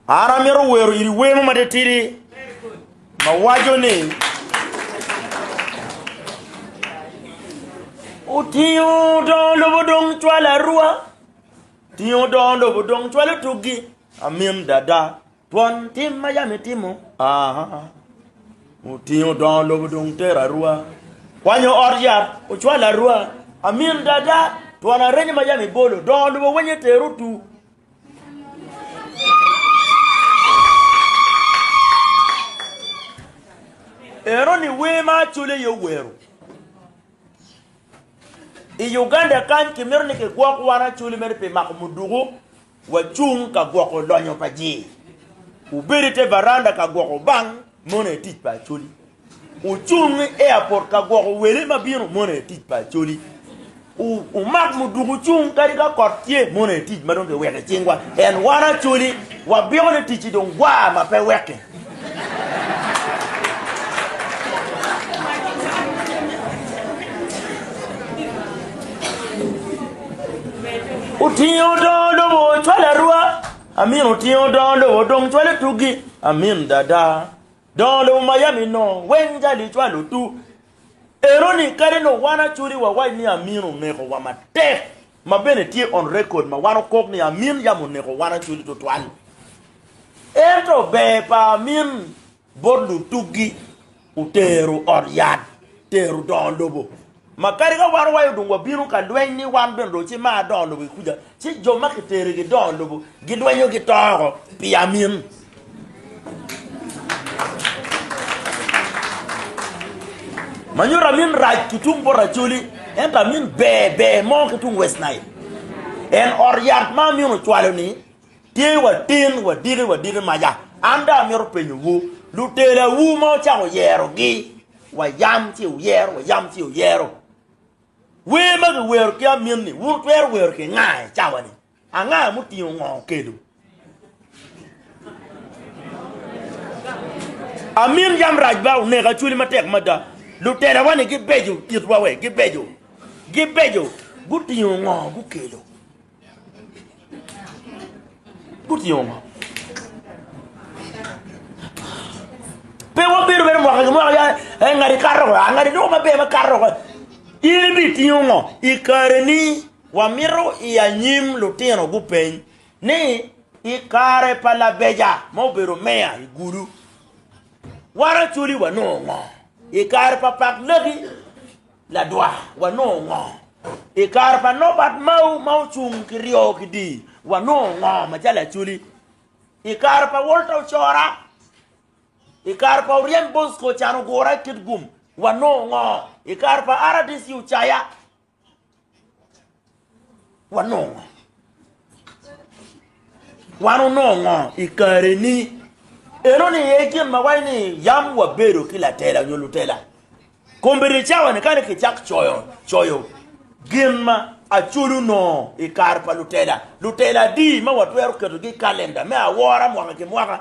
An amito wero iri wer mo matitidi ma waco ni otingo dongo lobo dong cwalo arwa otingo dongo lobo dong cwalo tuggi amin dada. Twon tim ma yam itimo otingo dongo lobo dong tero arua, kwanyo ot yat ocwalo arua. Amin dada, twon arenyo ma yam ibolo dongo lobo wenye tero otu. Eno ni wer ma Acholi aye owero. I Uganda kany kimito ni kigwok wan Acholi mere pi mako muduku Wacung ka gwoko lonyo pa jii. Wubed i te varanda ka gwoko bang mono i tic pa Acholi. Wucung i airport ka gwoko wele ma bino mono i tic pa Acholi. Wumak muduku wucung kadi ka kot tye mono i tic ma dong kiweko i cingwa. En wan Acholi wabiko ni ticci dong gwa ma pe wekki. Otingo odongo lobo ocwalo arwa. Amin otingo odongo lobo odong cwalo tugi. Amin dada. Dongo lobo Miami no weng jali cwalo tu. Ero ni kadi ni wan acudi wawac ni Amin oneko wa matek. ma bene tye on record ma wan okok ni Amin yam oneko wan Acholi tutwal. Ento ber pa Amin bot lutugi otero ot yat, tero dongo lobo. Ma kadi ka wan owaco dung wabino ka lweny ni wan bene dong ci mar dongo lobo ki kuca, ci jo ma kitero gidongo lobo gilwenyo gito oko pi Amin. Ma nyuto amin rac ki tung bot Acholi, ento amin ber ber mo ki tung West Nile. En ot yat ma amin ocwalo-ni tye watin wadiki wadiki maca. An dong amito penyowu, lutelawu ma wucako yerogi, wayam ci wuyero, wayam ci wuyero, wer ma kiwero ki amin-ni wun wutwero wero ki nga i cawa-ni? Anga mutingo ngo kelu? Amin yam rac ba oneka cwali matek mada lutelawa ni gibeco itwa we gibeco gibeco gutingo ngo gukelo gutingo ngo pe wabedo bene mwaka ki mwaka ya eh, ngadi kato ko ah, ngadi doko maber ma kato ko in ibitingo ngo i kareni Wamito i anyim lutino gupeny ni i kare pa labeja ma obedo meya i Gulu, wan Acholi wanongo ngo? I kare pa Pak Laki ladwa wanongo ngo? I kare pa Nobert Mao ma ocung ki ryo ki dii wanongo ngo macalo Acholi? I kare pa Walter Ocora, i kare pa Oryem Bosco Can Ogura Kitgum wanongo ngo? I kare pa RDC Ocaya Wanongo ngo? Wan wunongo ngo i kareni? Enoni aye gin ma waco ni yam wabedo ki latela nyo lutela. Kombeddi i cawani kani kicak coyo coyo gin ma Acoli onongo i kare pa lutela, lutela adi ma watwero ketogi i kalenda me awora mwaka ki mwaka